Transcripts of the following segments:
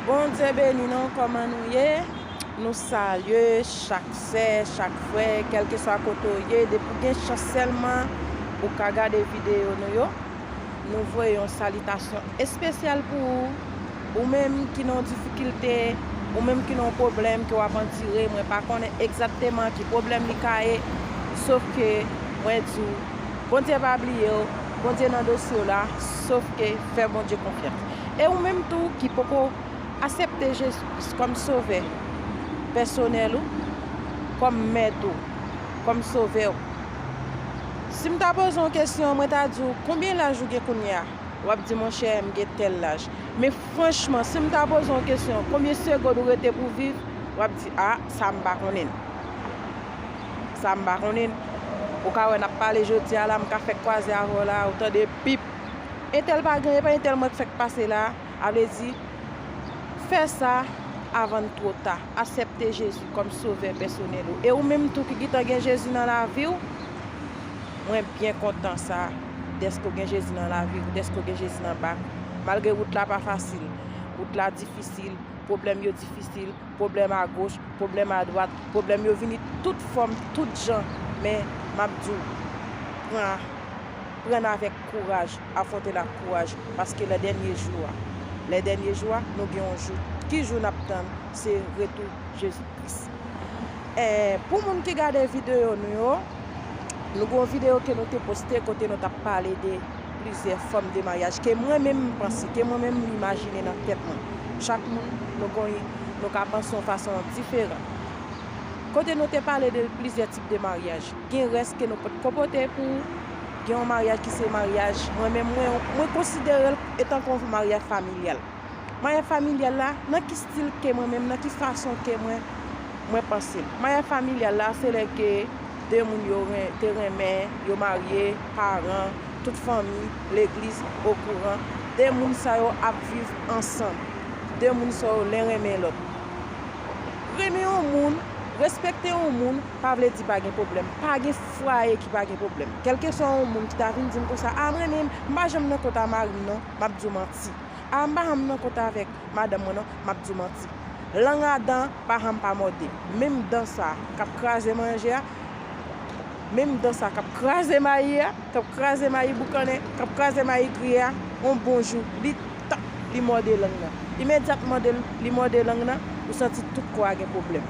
Bondye beni nou kòman nou ye nou salye chak sè chak frè kèlkeswa kote ou ye depi ou gen chans sèlman ou ka gade videyo nou yo nou voye yon salitasyon espesyal pou ou ou menm ki nan yon difikilte ou menm ki nan yon pwoblèm ke wap andire mwen pa konnen egzakteman ki pwoblèm li ka ye sof ke mwen di ou Bondye pa bliye ou Bondye nan dosye ou la sof ke fè Bondye konfyans. E ou menm tou ki poko asepte Jezi Kris kòm sovè pèsonèl ou, kòm mèt ou, kòm sovè ou. Si m ta poze w kesyon, mwen ta di w, konbyen laj ou gen kounye a? W ap di, monchè, m gen tèl laj. Men franchman, si m ta poze w kesyon, konbyen segond ou rete pou viv? W ap di, a, sa m pa konnen. Sa m pa konnen. Ou ka wè n ap pale jodi a la, m ka fèk kwaze avè w la, ou tande pip. Entèl pa gen, epa entèl mwen k fèk pase la, a vle di fè sa avan n two ta, asèpte Jezi kòm sovè pèsonèl ou. E ou menm tou ki gitan gen Jezi nan lavi w, mwen byen kontan sa dèske w gen Jezi nan lavi w, dèske w gen Jezi nan bak ou. Malgre wout la pa fasil, wout la difisil, pwoblèm yo difisil, pwoblèm a goch, pwoblèm a dwat, pwoblèm yo vini tout fòm, tout jan, men m ap di w, pran. Pran n avèk kouraj, afwonte n ak kouraj, paske lè dènye jou a, lè dènye jou a, nou gen yon jou, ki jou n ap tann, se retou Jezi Kris. E, pou moun ki gade videyo nou yo, nou gen yon videyo ke nou te poste kote nou t ap pale de plizyè fòm de maryaj ke mwen menm m panse, ke mwen menm m imajine nan tèt mwen. Chak moun, nou gen yon, nou ka panse yon fason diferan. Kote nou te pale de plizyè tip de maryaj. Gen rès ke nou pot ko pote pou gen yon maryaj ki se maryaj mwen menm mwen mwen konsiderel etan kon maryaj familyal. Maryaj familyal la nan ki stil ke mwen menm nan ki fason ke mwen mwen panse. Maryaj familyal la se lè ke 2 moun yo te renmen, yo marye, paran, tout fanmi, legliz okouran. 2 moun sa yo ap viv ansanm. 2 moun sa yo len renmen lòt. Renmen yon moun, respekte yon moun. pa vle di pa gen pwoblèm, pa gen fwaye ki pa gen pwoblèm. Kèlkeswa yon moun ki ta vin di m konsa, a m renmen, m pa janm nan kont a mari m non, m ap di w manti. A m pa janm nan kont avèk madanm mwen non, m ap di w manti. Lang a dan pa janm pa mòde. Menm dan sa k ap kraze manje a, menm dan sa k ap kraze mayi a, k ap kraze mayi boukannen, k ap kraze mayi griye a, yon bon jou, li Tank li mòde lang nan. Imedyat mòde li mòde lang nan, ou santi tout kò a gen pwoblèm.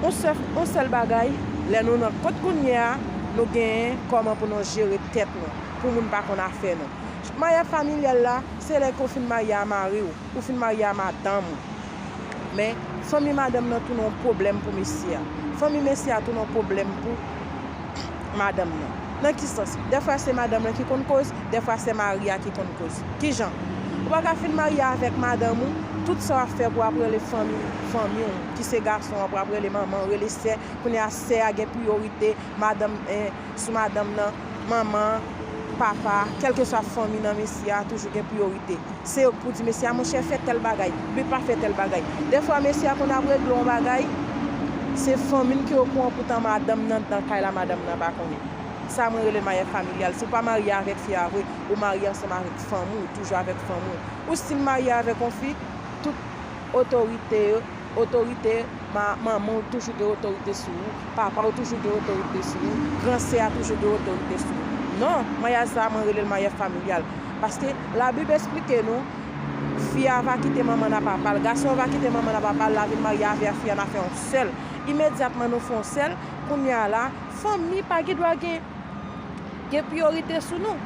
On sèf, on sèl bagay, lè nou nan kont kounye a, nou genyen kòman pou nou jere tèt nou, pou moun pa konn afè nou. Maryaj familyal la, se lè ke w fin marye a mari w, ou fin marye a madanm ou. Men, fanmi madanm nan tounen yon pwoblèm pou mesye a. Fanmi mesye a tounen yon pwoblèm pou madanm nan. Nan ki sans? Dèfwa se madanm lan ki konn koz, dèfwa se mari a ki konn koz. Ki jan? Ou pa ka fin marye avèk madanm ou, tout sa w ap fè pou ap rele fanmi w, fanmi w, ki se gason an pou ap rele manman, rele sè, kounye a sè a gen priyorite, madanm, en, sou madanm nan, manman, papa, kèlkeswa fanmi nan mesye a toujou gen priyorite. Se yo k pou di mesye a monchè fè tèl bagay oubyen pa fè tèl bagay. Dèfwa mesye a konn ap regle yon bagay, se fanmi l ki okouran poutan madanm nan nan kay la madanm nan pa konnen. Sa mwen rele maryaj familyal. Si w pa marye avèk fi a vre, ou marye ansanm avèk fanmi w, ou toujou avèk fanmi w. Ou stil marye avèk yon fi, tout otorite yo Otorite, ma, manman ou toujou gen otorite sou ou, papa ou toujou gen otorite sou ou, gran sè a toujou gen otorite sou ou. Non, maryaj sa a mwen rele l maryaj familyal. Paske Labib esplike nou, Fi a va kite manman l ak papa l, gason an va kite manman l ak papa l, l a vin marye avè a, fi a na fè yon sèl. Imedyatman nou fè yon sèl, kounye a la, fanmi pa gen dwa gen. gen priyorite sou nou.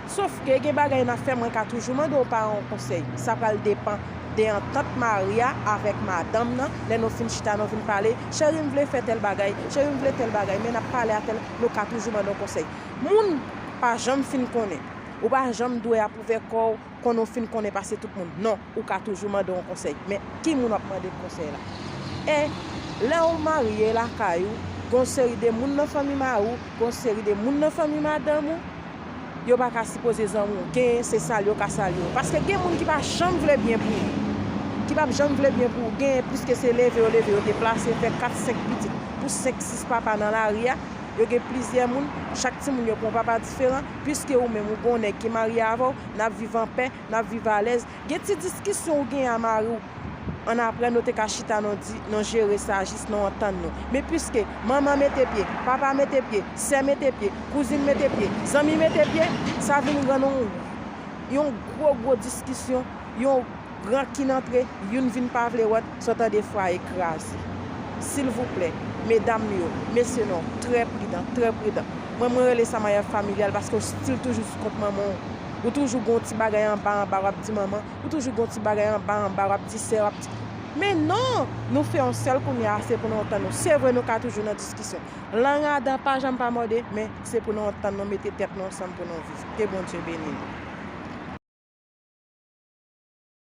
Sof ke gen bagay nan fè mwen ka toujou mande w paran w konsèy. Sa pral depan de antant mari a avèk madanm nan lè nou fin chita nou vin pale, cheri m vle fè tèl bagay, cheri m vle tèl bagay men n ap pale a tèl nou ka toujou mande w konsèy. Moun pa janm fin konnen. Ou pa janm dwe apwouve kò w konn ou fin konnen pase tout moun non ou ka toujou mande yon konsèy men ki moun wap mande konsèy la e lèw marye lakay ou gon seri de moun nan fanmi mari w gon seri de moun nan fanmi madanm ou yo pa ka sipoze zanmi w gen se sal yo ka sal yo paske gen moun ki pa janm vle byen pou ou ki pap janm vle byen pou ou gen pliske se leve yo leve yo te plase fè 4 5 pitit pou 5 6 papa nan lari a yo gen plizyè moun chak ti moun yo pran papa diferan. Piske ou menm ou gen yon nèg ki marye avè w, n ap viv anpè, n ap viv alèz. Gen ti diskisyon ou genyen a mari w, annapre nou te ka chita nou di, nou jere sa jis nou antann nou. Men piske manman mete pye, papa mete pye, sè mete pye, kouzin mete pye, zanmi mete pye, sa vin rann yon gwo gwo diskisyon, yon. Rankin antre, youn vin pa vle wòt, so tande fwaye kraze. Silvouplè, medam yo, mesye non, trè pridan, trè pridan. Mwen mwen rele sa maryaj familyal paske w stil toujou sou kont manman w. Ou toujou gon ti bagay anba anba w ap di manman, ou toujou gon ti bagay anba anba w ap di sè, w ap di. Men non! Nou fè yon sèl kounye a, se pou nou antann nou. Se vre nou ka toujou nan diskisyon. Lang a dan pa janm pa mòde, men se pou nou antann nou, mete tèt nou ansanm pou nou viv. Ke Bondye beni nou.